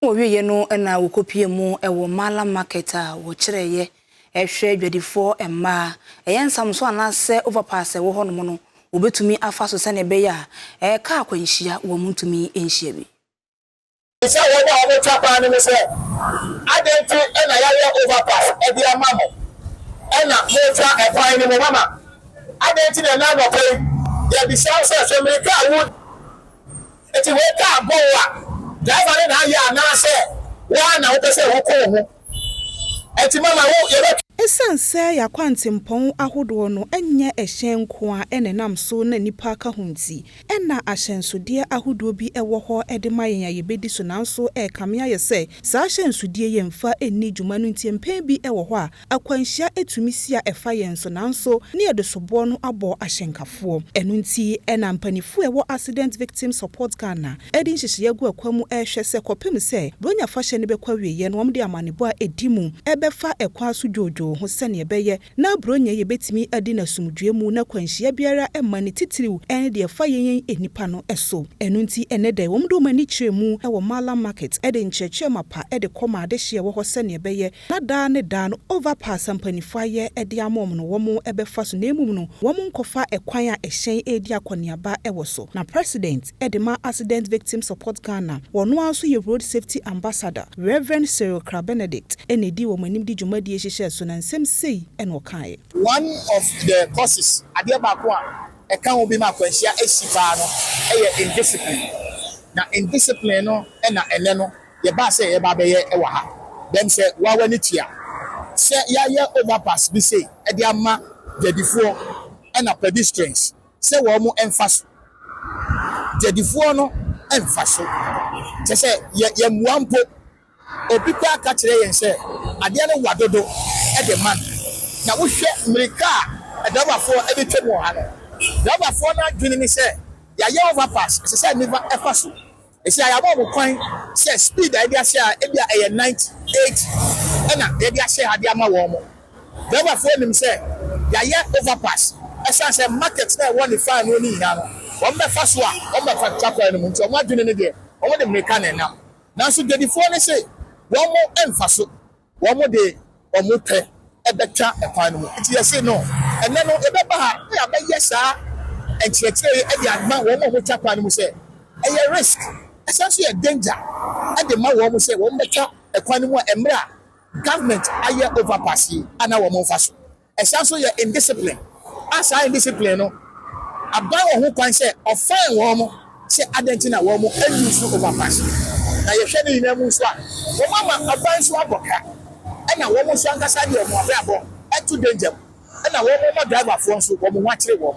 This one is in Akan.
Wɔwieeɛ no na wɔkɔpuee mu wɔ Mala Market a wɔkyerɛeɛ rehwɛ adwadifoɔ mmaa. Ɛyɛ nsamso anaasɛ overpass a ɛwɔ hɔnom no, wɔbɛtumi afa so sɛdeɛ ɛbɛyɛ a kaa akwanhyia wɔntumi nhyia bi. Bisa wɔn a wɔtwa kwan no no sɛ, Adɛn nti na yɛayɛ overpass de ama mo na moretwa kwan no mu? Mama, adɛn nti na ɛnnɛ anɔpa yi yɛbisa wo sɛ, sɛ mmirika a wodi Enti wei ka abɔ wo a driver no na ayɛ anaa sɛ wo ara na wo pɛ sɛ wo ko wo ho? Enti mama wo yɛbɛ. Esiane sɛ y'akwantempɔn ahodoɔ no nyɛ ɛhyɛn nko ara na ɛnam so na nnipa ka ho nti, na ahyɛnsodeɛ ahodoɔ bi wɔ hɔ de ma yɛn a yɛbɛdi so nanso ɛrekame ayɛ sɛ saa ahyɛnsodeɛ yi mfa nni dwuma no nti mpɛn bi wɔ hɔ a Akwanhyia tumi si a ɛfa yɛn so nanso ne yɛde soboɔ no abɔ ahyɛnkafoɔ. Ɛno nti na mpaninfoɔ a ɛwɔ Accident Victims Support Ghana ɛde nhyehyɛeɛ agu akwan mu ɛrehwɛ sɛ kɔpem sɛ Buronya fahyɛ no bɛkɔ awieɛ no wɔde amanebɔ a ɛdi mu ɛbɛfa ɛkwan so dwoodwoo ho sɛdeɛ ɛbɛyɛ na Buronya yi bɛtumi adi no asomdwoeɛ mu na kwanhyia biara mma no titiriw ɛne deɛ ɛfa yɛn yɛn nnipa no so. Ɛno nti ɛnnɛ da yi wɔde wɔn ani kyerɛ mu wɔ Mallam Market de nkyerɛkyerɛ mapa de kɔ ma adehyeɛ a ɛwɔ hɔ sɛdeɛ ɛbɛyɛ na daa ne daa no overpass a mpanyinfoɔ ayɛ de ama wɔn no wɔn bɛfa so na mmom no wɔn nkɔfa kwan a ɛhyɛn redi akɔneaba wɔ so. Na President de ma Accident Victim Support Ghana, ɔno ara nso yɛ Road Safety Ambassador, Rev. Cyril Kra Benedict na ɛdi wɔn anim de dwumadie yi hyehyɛɛ so na nsɛm sei na ɔkaeɛ. One of the causes, adeɛ baako a ɛka ho bi ma akwanhyia si paa no yɛ indiscipline. Na indiscipline no na ɛnnɛ no Yɛbaa sɛ yɛreba abɛyɛ wɔ ha dɛm sɛ woa w'ani kye a. Sɛ yɛayɛ overpass bi sei de ama dwadifoɔ ɛna pedestrians sɛ wɔn mfa so. Dwadifoɔ no mfa so. Kyerɛ sɛ yɛ yɛmmoa mpo. Obi koraa ka kyerɛ yɛn sɛ adeɛ no wa dodo de ma no. Na wohwɛ mmirika a adrabafoɔ de twam wɔ ha no, drabafoɔ no adwene ne sɛ yɛayɛ overpass ɛsɛ sɛ nnipa fa so. Ese a yɛabɔ mo kwan sɛ speed a yɛde ahyɛ ha ebia ɛyɛ 90, 80 na yɛde ahyɛ ha de ama wɔn mo. Driverfoɔ nim sɛ yɛayɛ overpass ɛsiane sɛ market no a ɛwɔ Nifa ɛno no nyinaa no wɔn bɛfa so a wɔn bɛfa atwa kwan no mu nti wɔn adwene no deɛ wɔn de mmirika na ɛnam nanso Dwadifoɔ no se wɔn mfa so. Wɔde wɔn pɛ bɛtwa kwan no mu. Enti yɛse no, ɛnnɛ no yɛbɛba ha na yɛabɛyɛ saa nkyerɛkyerɛ yi de ama wɔn a wɔtwa kwan no mu sɛ ɛyɛ risk, ɛsan nso yɛ danger de ma wɔn sɛ wɔmmɛtwa kwan no mu a mmerɛ a government ayɛ overpass yi a na wɔmmfa so. Ɛsan nso yɛ indiscipline a saa indiscipline no aban wɔn ho kwan sɛ ɔfine wɔn sɛ adɛn nti na wɔn use overpass no. Na yɛhwɛ ne nyinaa mu nso a, wɔn ama aban nso abɔ ka ɛna wɔn nso ankasa de wɔn abrabɔ to danger mu ɛna wɔn ma driverfoɔ nso wɔn ho akyere wɔn.